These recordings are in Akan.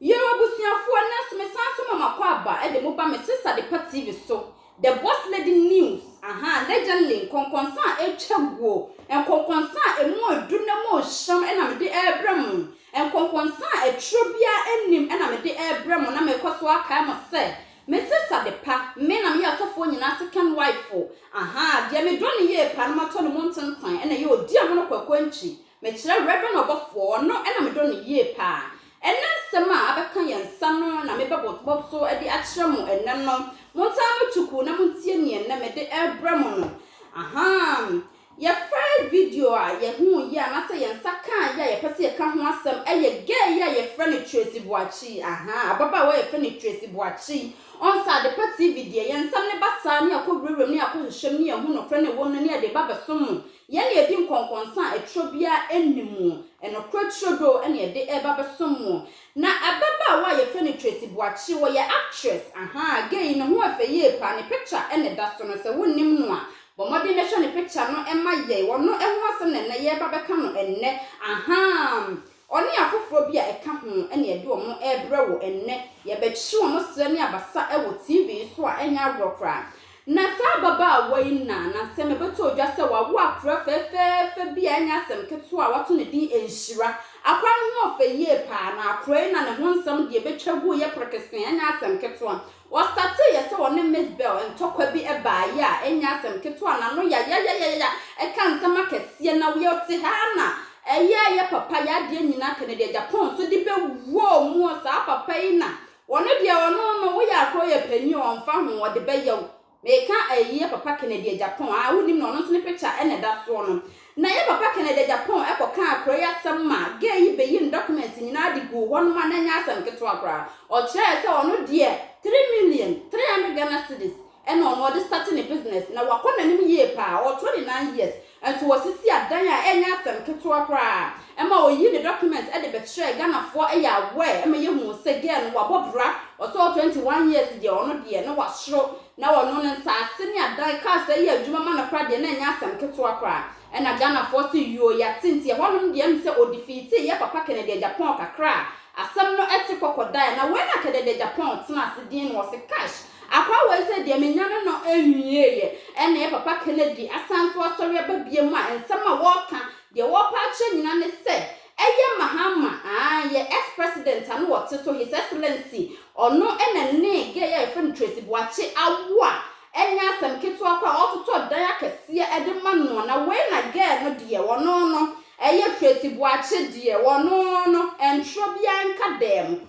Yo abusuafoɔ nnɛ nso mesan nso ma makɔ aba de mo ba me sesa adepa TV so the boss lady news ahaa legently nkɔnkɔnsa a ɛtwa guo nkɔnkɔnsa a ɛmu ɛdu na mu hyerɛm ɛna mede ɛrebrɛ mo nkɔnkɔnsa a ɛtwerɛ biara ɛnnim ɛna mede ɛrebrɛ mo na mekɔ so akae mo sɛ me sesa adepa me na meyɛ asɔfoɔ nyinaa second wife ahaa deɛ medɔ no yie paa na matɔ ne mu ntentan ɛna ɛyɛ ɔdi amono kwakoankyi mekyerɛ reverend ɔbɔfoɔ ɔno ɛna medɔ no yie paa Ɛnnɛ nsɛm a abɛka yɛn nsa no na mebɛbobɔ so de akyerɛ mo ɛnnɛ no. Montaa mo tukuu na montie nea ɛnnɛ mede rebrɛ mo no. Ahaa! Yɛ first video a yɛhuu yi anaasɛ yɛn nsa kaa yi a yɛpɛ sɛ yɛka ho asɛm yɛ girl yi a yɛfrɛ no Tracy Boakye. Ahaa! Ababaawa a yɛfrɛ no Tracy Boakye. Ɔnsa Adepa TV deɛ, yɛn nsɛm no ba saa na yɛakɔ wurawuram na yɛakɔ hwehwɛm na yɛahu nokorɛ na ɛwɔ mu no na yɛde reba abɛsom mo. Yɛn na yɛadi nkɔnkɔnsa a ɛtorɔ biara nni mu, nokorɛ turodoo na yɛde reba abɛsom mo. Na ababaawa a yɛfrɛ no Tracy Boakye, ɔyɛ actress, ahaa, gay yi, ne ho yɛ fɛ yie paa, ne picture na ɛda so no, sɛ wonnim no a, bɔ mmɔden bɛhwɛ ne picture no ma yɛn, ɔno ho asɛm na ɛnnɛ yɛreba abɛka no ɛnnɛ, ahaa. Ɔne afoforɔ bi a ɛka ho na yɛde wɔn rebrɛ wo ɛnnɛ. Yɛbɛkyere wɔn serɛ ne abasa wɔ TV so a ɛnyɛ agorɔ koraa. Na saa ababaawa yi na na nsɛm mebɛtɔɔ dwa sɛ wawo akora fɛɛfɛɛfɛ bi a ɛnyɛ asɛm ketewa a wato ne din Nhyira. Akora no ho ɔfɛ yie paa na akora yi na ne ho nsɛm deɛ ɛbɛtwa guiɛ prekesee ɛnyɛ asɛm ketewa. Wɔstartee yɛ sɛ wɔne Miss Bell ntɔkwa bi baa yɛ a ɛnyɛ asɛm ketewa n'ano yayayayaya ɛka nsɛm akɛseɛ na yɛte ha ara na ɛyɛ yɛ papa yɛ adeɛ nyinaa kane deɛ Japan nso de bɛ wuo muo saa papa yi na wɔno deɛ ɔno no woyɛ akorɔ yɛ panin ɔnfa ho ɔde bɛyɛ wo Meka eyi yɛ Papa Kennedy Agyapong a wonim no, ɔno nso ne picture na ɛda soɔ no. Na yɛ Papa Kennedy Agyapong kɔkaa kuro yi asɛm ma girl yi bɛyii ne documents nyinaa de guu hɔ nom a na ɛnyɛ asɛm ketewa koraa. Ɔkyerɛɛ sɛ ɔno deɛ three million, three hundred Ghana cedis na ɔno ɔde starte ne business na wakɔ n'anim yie paa, ɔwɔ twenty nine years. Nso wɔsisi adan a ɛnyɛ asɛm ketewa koraa ɛma ɔyii ne documents de bɛkyerɛɛ Ghanafoɔ ɛyɛ aware ma yɛhuu sɛ girl no wabɔ bra ɔsɛ ɔ 21 years deɛ ɔno deɛ na wasoro na ɔno no nsaase ne adan cars ɛyɛ adwuma ma no koraa deɛ na ɛnyɛ asɛm ketewa koraa ɛna Ghanafoɔ se yoo yɛate nti ɛhɔnom deɛ ɛm sɛ ɔdefeatee yɛ papa kɛnɛdeɛ Japan kakra a asɛm no ɛte kɔkɔ daeɛ na wei na kɛdɛdɛ Japan tena ase din no ɔse cash Akoa wei sɛ deɛ menyane no nwieeɛ ɛna yɛ papa Kennedy asan so asɔre aba biom a nsɛm a wɔɔka deɛ wɔɔpɛ akyerɛ nyina ne sɛ ɛyɛ Mahama aah yɛ ex president a no ɔte so his excellency ɔno ɛna ne gay a yɛfrɛ no Tracy Boakye awo a ɛnyɛ asɛm ketewa koraa ɔɔtotɔ dan akɛseɛ ɛde ma noɔ na wei na gay no deɛ wɔno no ɛyɛ Tracy Boakye deɛ wɔno no ɛntwerɛ biaa nka dɛɛm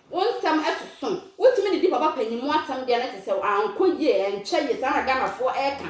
Wo nsɛm ɛsoso. Wotumi de di papa panyin mu asɛm deɛ na kyerɛ sɛ ankɔ yie, ɛnkyɛ yie, saa na Ghanafoɔ ɛreka.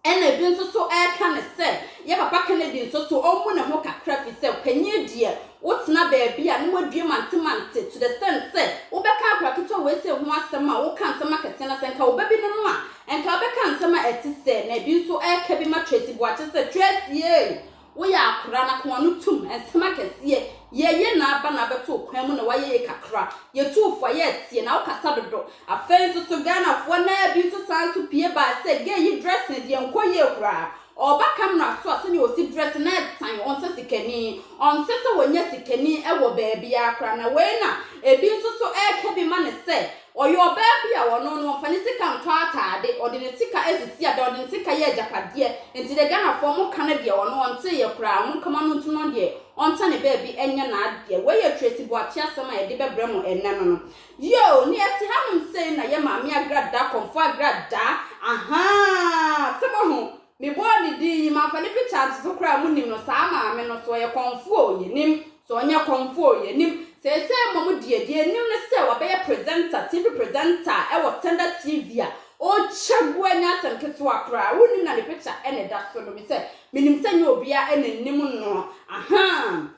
Ɛna ebi nso so ɛreka no sɛ yɛ papa Kennedy nso so ɔmmu ne ho kakra firi sɛ panyin deɛ wotena baabi a na wadue mante mante to the extent sɛ wobɛka akwadaa ketewa wei sei ho asɛm a woka nsɛm akɛseɛ na sɛ nka wo ba bi ne no a nka wobɛka nsɛm a ɛte sɛɛ na ebi nso ɛreka bi ma Tracy Boakye sɛ Tracy ei Woyɛ akora na kɔn ano tum, nsɛm akɛseɛ, Yɛɛyɛ na aba na abɛto kwan mu na wayɛyɛ kakra, Yɛtuu fo a yɛɛ teɛ na wo kasa dodo, Afei nso so Ghana foɔ naa bi nso saa nso pie baa sɛ gay yi dressing deɛ nkɔ yie koraa, Ɔɔba camera so a sɛdeɛ ɔsi dress na ɛtan, ɔnsɛ sikani, Ɔnsɛ sɛ wɔnya sikani wɔ baabiara koraa na wei na ebi nso so ɛɛka bi ma no sɛ Ɔyɛ ɔbaa bi a ɔno no ɔmfa ne sika ntɔ ataade, ɔde ne sika asisi adan, ɔde ne sika yɛ agyapadeɛ, nti deɛ Ghanafoɔ mo nka no deɛ ɔno ɔntee yɛ koraa, mo nka ma no ntu no deɛ ɔnta ne baabi nyɛ n'adeɛ, wei yɛ Tracy Boakye asɛm a yɛde bɛbrɛ mo ɛnnɛ no no. Yoo, nea ɛte hanom sei na yɛ Maame Agradaa, Kɔmfoɔ Agradaa, ahaa, sɛ moahu. Me bɔɔ ne din yi, mamfa ne picture antoto koraa a, monim no, saa maame no, sɛ ɔyɛ kɔmfoɔ oo, yɛnim, sɛ ɔnyɛ kɔmfoɔ oo, yɛnim, seesei mmom deɛ, deɛ yɛnim ne sɛ wabɛyɛ presenter, TV presenter wɔ Tender TV a, ɔrekyɛ gu ɛnyɛ asɛm ketewa koraa, wonim na ne picture na ɛda so no, me sɛ, menim sɛ ɛnyɛ obiara na ɛnim no, ahaa.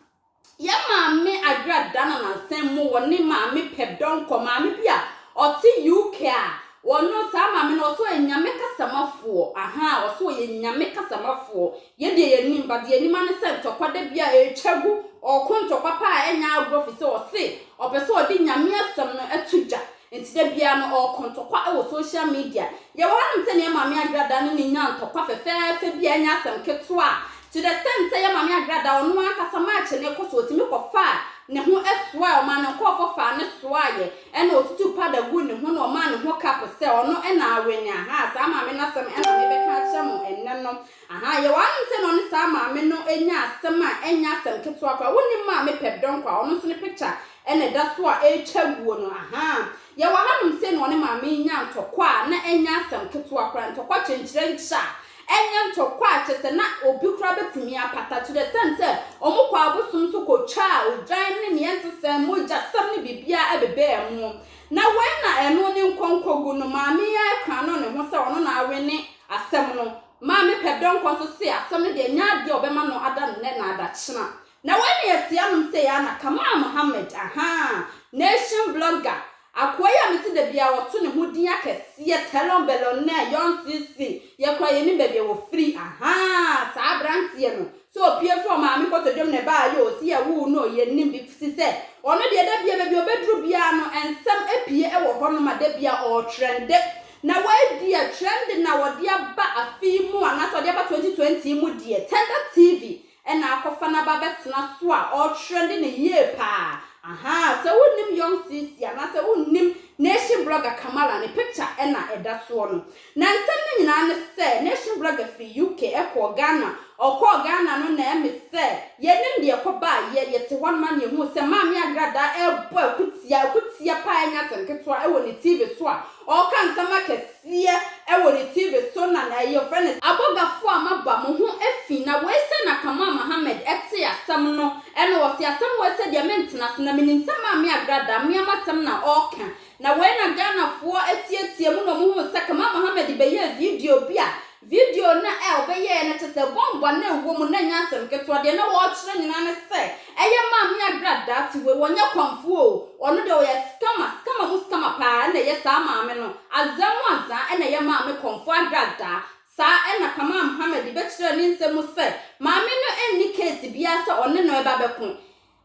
Yɛn maame Adwoa Dana Nansɛn mo wɔ ne maame pɛ dɔnkɔ maame bi a ɔte UK a wɔno saa maame no ɔsɛ ɔyɛ nyame kasamafoɔ ahaa ɔsɛ ɔyɛ nyame kasamafoɔ yɛ deɛ yɛn nim ba deɛ nim ane sɛ ntɔkwa da bi a ɛretwa gu ɔko ntɔkwa paa ɛnyɛ agorɔ fi sɛ ɔse ɔpɛ sɛ ɔde nyame asɛm no ɛto dwa Enti da biara no ɔkɔ ntɔkwa wɔ social media. Yɛwɔ hanom sɛ nea Maame Agrada ne no nya ntɔkwa fɛfɛɛfɛ bi a ɛnyɛ asɛm ketewa a, to the extent sɛ yɛ Maame Agrada ɔno ankasa March no rekɔ so ɔtumi kɔfaa ne ho soaɛ, ɔmaa ne nkɔɔfɔ faa no soaeɛ, ɛna ɔtutuu powder guu ne ho na ɔmaa ne ho cup sɛ ɔno na awene, ahaa saa maame no asɛm na mebɛka akyerɛ mo ɛnnɛ no. Ahaa, yɛwɔ ahem sɛ na ɔne saa maame no anya asɛm a ɛnyɛ asɛm ketewa koraa. Wonni mma a mepɛ dɔnkɔ a ɔno nso ne pikya na ɛda so a ɛretwa aguo no. Ahaa, yɛwɔ hanom sei na ɔne maame yi nyaa ntɔkwa a na ɛnyɛ asɛm ketewa koraa, ntɔkwa kyenkyerɛ nkyɛ a ɛnyɛ ntɔkwa a kyerɛ sɛ na obi koraa bɛtumi apata, to the extent sɛ wɔkɔɔ abosom so kɔtwaa odwan ne deɛ ɛnte sɛn, mogyasɛm ne biribiara ɛbebɛɛ mu. Na wei na ɛno ne nkɔnkɔgu no, maame yi ara kura no ne ho sɛ ɔno na awene Asɛm no, Maame Pɛ Dɔ Nkwa nso see asɛm no deɛ ɛnyɛ adeɛ a ɔbɛma no ada nnɛ na adakyena. Na wei na yɛte anom sei ara na Kamal Mohammed, ahaa, Nation blogger, akoa yi a mete da biara ɔto ne ho din akɛseɛ, Telon Bellonne, Young CC, yɛ koraa yɛnim baabi a wɔfiri, ahaa, saa aberanteɛ no, sɛ ɔpue firi ɔmaame nkotodwom na ɛbaeɛ oo, sɛ yɛwoo no oo, yɛnnim bi, firi sɛ ɔno deɛ da biara baabi a ɔbɛduru biara no nsɛm apue wɔ hɔnom a da biara ɔretrɛnde Na wei deɛ trending na wɔde aba afe yi mu anaasɛ wɔde aba 2020 yi mu deɛ, Tender TV na akɔfa no aba abɛtena so a ɔretrende no yie paa. Ahaa, sɛ wonnim Young CC anaasɛ wonnim Nation Blogger Kamala ne picture na ɛda soɔ no. Na nsɛm no nyinaa ne sɛ Nation Blogger firi UK kɔɔ Ghana, ɔkɔɔ Ghana no na ɛme sɛ yɛnnim deɛ ɛkɔbaa yɛ, yɛte hɔ nom a na yɛhuu sɛ Maame Agradaa ɛrebɔ akutia, akutia paa ɛnyɛ asɛm ketewa, wɔ ne TV so a Ɔɔka nsɛm akɛseɛ wɔ ne TV so na na ɛyɛ ɔfrɛ no. Abɔgafo a maba mo ho afi na wei sɛ na Kamal Mohammed tee asɛm no na ɔse asɛm wei sɛ deɛ mentena so na menim sɛ Maame Agra da meam asɛm na ɔɔka na wei na Ghanafoɔ teateam na ɔmo huu sɛ Kamal Mohammed bɛyɛɛ video bi a Video no a wɔbɛyɛeɛ no kyerɛ sɛ bɔmbɔ no a ɛwɔ mu no nyɛ asɛm ketewa, deɛ na wɔrekyerɛ nyinaa ne sɛ ɛyɛ Maame Agra daakye wei, wɔnyɛ kɔmfoɔ o, ɔno deɛ ɔyɛ scammer, scammer mu scammer paa ɛna ɛyɛ saa maame no, Azaa mu Azaa ɛna ɛyɛ maame kɔmfoɔ Agra Daa. Saa ɛna Kamal Mohammed bɛkyerɛɛ ne nsɛm mu sɛ maame no nni case biara sɛ ɔne no reba bɛko.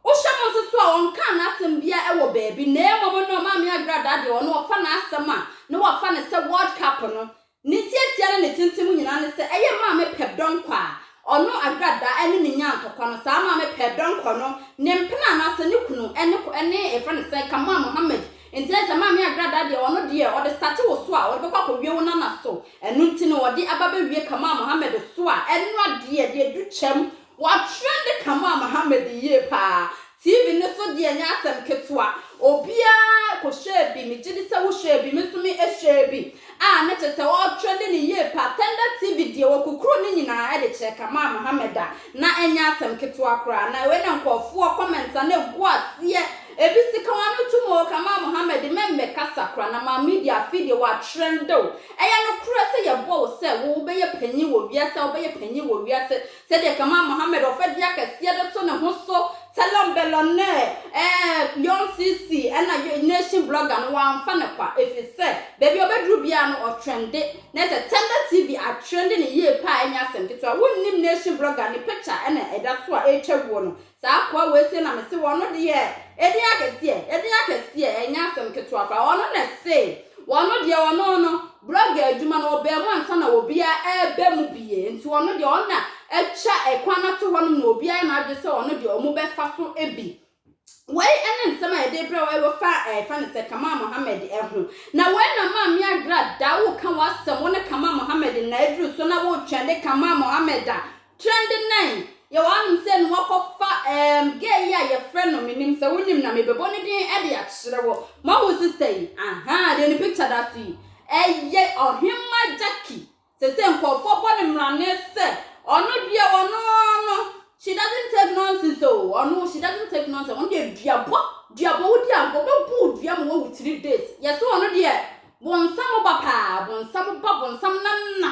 Wohwɛ mu nso so a ɔnkaa n'asɛm biara wɔ baabi na mmom no Maame Agra Daa deɛ ɔno wɔfa n'asɛm a na wɔafa no sɛ World Cup no Ne tiatia ne ne tenten mu nyinaa ne sɛ ɛyɛ maame pɛbdɔnkɔ a ɔno Agrada ne ne nyaa ntɔkwa no. Saa maame pɛbdɔnkɔ no, ne mpena anaasɛ ne kunu ne kɔ ne yɛfrɛ no sɛn, Kamal Mohammed. Nti na kyerɛ maame Agrada deɛ ɔno deɛ ɔde starte wo so a ɔde bɛkɔ akɔwie wo nana so. Ɛno nti na ɔde aba bɛwie Kamal Mohammed so a ɛno adeɛ deɛ ɛdu kyɛm. Wa trende Kamal Mohammed yie paa. TV no so deɛ nyɛ asɛm ketewa. Obiara kɔhwɛɛ bi, megye di sɛ wohwɛɛ bi, me nso mehwɛɛ bi, a na kyerɛ sɛ ɔretrɛnde no yie pa. Tender TV deɛ, wɔkukuru ne nyinaa de kyerɛ Kamal Mohammed a, na ɛnyɛ asɛm ketewa koraa. Na wei na nkurɔfoɔ comments a na ɛgu aseɛ, ebi se, Ka w'ano tom o, Kamal Mohammed, mma mmɛkasa koraa, na ma media, afei deɛ wɔatrɛnde wo. Ɛyɛ nokorɛ sɛ yɛbɔ wo sɛ wobɛyɛ panin wɔ wiase a, wobɛyɛ panin wɔ wiase, Sɛdeɛ kama Mohammed ɔfɛdeɛ kɛseɛ de to ne ho so Tɛlɔn Bɛlɔn ne ɛɛɛ Yɔn CC ɛna Yɔn Nation Blogger no wamfa no kwa ɛfiri sɛ baabi a ɔbɛduru biara no ɔtrɛnde na sɛ Tɛnda TV atrɛnde no yie paa ɛnyɛ asɛm ketewa wonnim Nation Blogger ne picture ɛna ɛda so a ɛretwa guo no Saa akoa wei se na mese wɔno deɛ edin akɛseɛ edin akɛseɛ ɛnyɛ asem ketewa koraa ɔno na ɛse wɔno deɛ ɔno no brɔga adwuma no ɔbaa mu ansa na obiara ɛɛba mu bie nti ɔno deɛ ɔno na atwa ɛkwan no ato hɔnom na obiara na adwene sɛ ɔno deɛ ɔmo bɛfa so bi. Wei ɛne nsem a yɛde brɛ wo ɛwɔ fa ɛɛ fɛ no sɛ Kamal Mohammed ɛho na wei na maa me agra da wo ka w'asem wo ne Kamal Mohammed nnaa aduru so na wo twɛn de Kamal Mohammed a Trendenain, yɛ wɔn anom sɛ no wɔkɔ fa ehm girl yi a yɛ frɛ no me nim sɛ wo nim na me bɛ bɔ ne din de akyerɛ wo. Mo ahu sister yi? Ahaa deɛ ne picture da so yi ɛyɛ Ɔhemma Jackie seisei nkorɔfoɔ bɔ no mmrane sɛ ɔno deɛ ɔno no she doesn't take nonsense oo ɔno she doesn't take nonsense ɔno deɛ duabɔ duabɔ wo di agorɔ bɛ bu wo dua ma wo awu three days yɛ se ɔno deɛ bonsam ba paa bonsam ba bonsam nana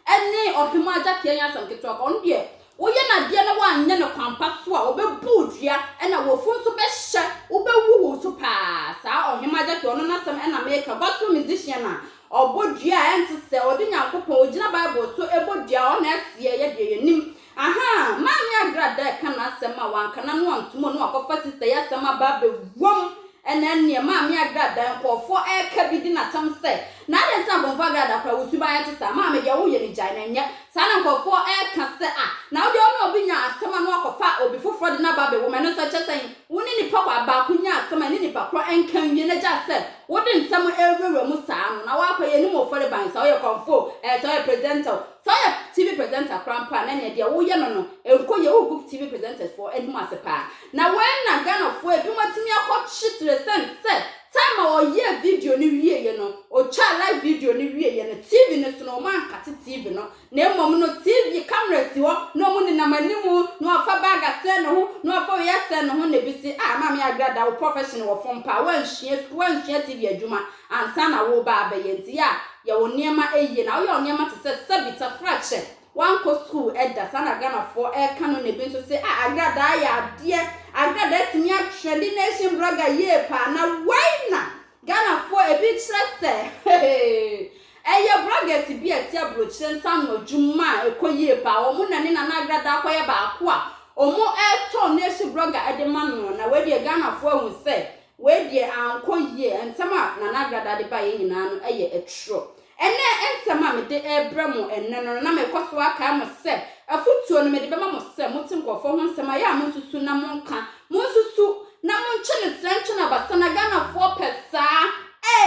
ɛne ɔhemmaa agya tea nyɛ asɛm ketewa kwa. Ɔno deɛ, woyɛ no adeɛ na woanyɛ no kwan pa so a, wɔbɛbu wo dua, ɛna w'afu nso bɛhyɛ, wobɛwu wo nso paa. Saa ɔhemmaa agya tea, ɔno n'asɛm na meka. Gospel musician a ɔbɔ dua a ɛnte sɛ, ɔde Nyankopɔn, ɔgyina Bible so bɔ dua, ɔno na ɛsoɛ, yɛ deɛ yɛnim. Ahaa, Maame Agrada reka n'asɛm a wanka no ano antom o na wakɔfa sista yi asɛm aba abɛwom. Ɛnna ɛnneɛ Maame Agrada, nkurɔfoɔ reka bi di no atɛm sɛ, Na adɛn nti na Bonfo Agrada koraa wo suban te saa? Maame, deɛ woyɛ no gyae na nyɛ saa na nkurɔfoɔ reka sɛ, Ah, na wo deɛ wo ne obi nya asɛm a na woakɔfa obi foforɔ de no aba abɛwom. Ɛno nso ɛkyerɛ sɛn? Wo ne nipa kwaa baako nya asɛm a ɛne nipa korɔ nka nwie na gyae sɛ wode nsɛm rewurawura mu saa no na woakɔ yɛ animuofareban, sɛ woyɛ kɔmfo o, ɛɛ sɛ woyɛ presenter o, Sɛ woyɛ TV presenter koraa mpo a na nea deɛ woyɛ no no nkɔ yie, wogu TV presenters foɔ anim ase paa. Na wei na Ghana foɔ ebinom atumi akɔ kyetere sɛn sɛ time a ɔyɛɛ video no wieɛ no, ɔtwaa live video no wieɛ no TV no so no wɔn ankate TV no na mmom no TV camera si hɔ na wɔn nenam anim na wɔafa bag asɛn ne ho na wɔafa wei asɛn ne ho na ebi se ah Maame Agrada wo profession wɔ fam paa woansua sukuu woansua TV adwuma Ansa na woreba abɛyɛ dea a, yɛ wo nneɛma yie. Na woyɛ wo nneɛma te sɛ sɛbi tafrakyɛ. Woankɔ sukuu da. Saa na Ghanafoɔ reka no nnɛ. Bi nso se, Ah, agradaa yɛ adeɛ. Agradaa tumi atwerɛ de nation blogger yie paa. Na wei na Ghanafoɔ ebi kyerɛ sɛ, hehe, ɛyɛ bloggers bi a ɛte aburokyire nsa ano adwuma a ɛkɔ yie paa. Wɔn na ne Nana Agradaa akɔyɛ baako a wɔretɔn nation blogger de ma no. Na wei deɛ Ghanafoɔ ahu sɛ Wei deɛ ankɔ yie, nsɛm a Nana Agrada de baeɛ nyinaa no yɛ aturɔ. Ɛnnɛ nsɛm a mede rebrɛ mo ɛnnɛ no, na merekɔ so akae mo sɛ, afotuo no mede bɛma mo sɛ, mote nkurɔfoɔ ho nsɛm a, ɛyɛ a monsusu na monka. Monsusu na monkyɛ no serɛ nkyɛ no abasa na Ghanafoɔ pɛ saa.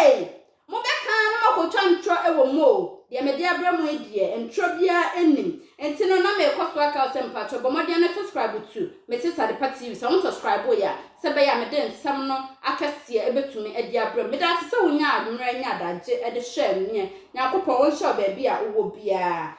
Ei! Mobɛka na moakɔtwa ntorɔ wɔ mu o, deɛ mede abrɛ mo yi deɛ, ntorɔ biara nnim. Nti no, na merekɔ so aka wo sɛ mpakyɛw bɔ mmɔden na subscribe to Mrs Adepa TV sɛ wo nsubscribee a, sɛ ɛbɛyɛ a mede nsɛm no akɛseɛ bɛtumi de abrɛ mo. Medaase sɛ wonyaa mmerɛ ne adagye de hwɛɛ me. Nyankopɔn ɔnhyira wo baabi a wowɔ biara.